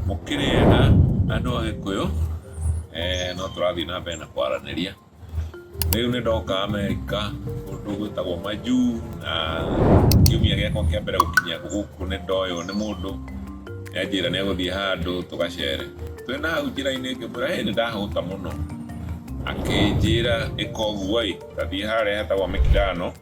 Mũkĩrĩ ega andũ a Gĩkũyũ, eh, no tũrathiĩ na mbere na kwaranĩria. Rĩu nĩ ndoka Amerika kũndũ gwĩtagwo Maju na kiumia gĩakwa kĩa mbere gũkinya gũkũ nĩ ndoywo nĩ mũndũ yanjĩra nĩ egũthiĩ handũ tũgacere. Twĩ na hau njĩra-inĩ ngĩmwĩra ĩ nĩ ndahũta mũno, akĩnjĩra ĩka ũguo ĩ ta thiĩ harĩa hetagwo Mĩkindano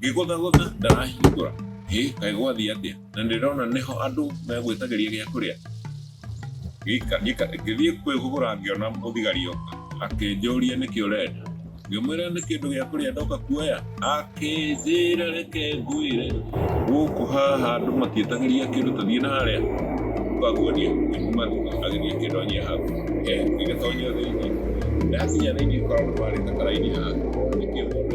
ngĩgũthagũtha ndarahingũra hĩ kaĩ gwathiĩ atĩa na ndĩrona nĩho andũ megwĩtagĩria gĩa kũrĩa ngĩthiĩ kwĩgũgũra ngĩona mũthigari oka akĩnjũria nĩkĩ ũrenda ngĩmwĩra nĩ kĩndũ gĩa kũrĩa ndoka kuoya akĩnjĩra reke ngwĩre gũkũ haha andũ matiĩtagĩria kĩndũ tũthiĩ na harĩa twaguonia kuma agĩthiĩ kĩndũ anyia hau ngĩgĩtonya thĩinĩ ndakinya thĩinĩ korwo nĩ marĩte karaini haha nĩkĩo mũndũ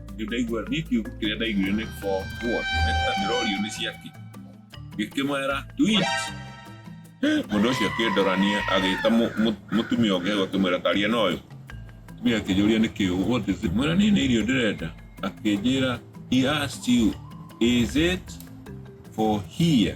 Rĩu ndaigua niĩ kĩu kĩrĩa ndaiguire nĩ for what na ndĩrorio nĩ ciaki ngĩkĩmwera tweet mũndũ ũcio akĩndorania agĩta mũ- mũ- mũtumia ũngĩ agakĩmwĩra taria na ũyũ mũtumia akĩnjũria nĩ kĩũ what is it mwĩra niĩ nĩ irio ndĩrenda akĩnjĩra he asked you is it for here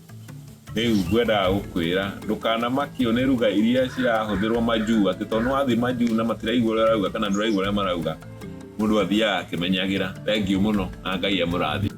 Rĩu ngwendaga gũkwĩra ndũkanamakio nĩ ruga iria cirahũthĩrwo majuu atĩ tondũ nĩwathiĩ majuu na matiraigua ũrĩa ũrauga kana ndũraigua ũrĩa marauga mũndũ athiaga akĩmenyagĩra thengiũ mũno na ngai amũrathime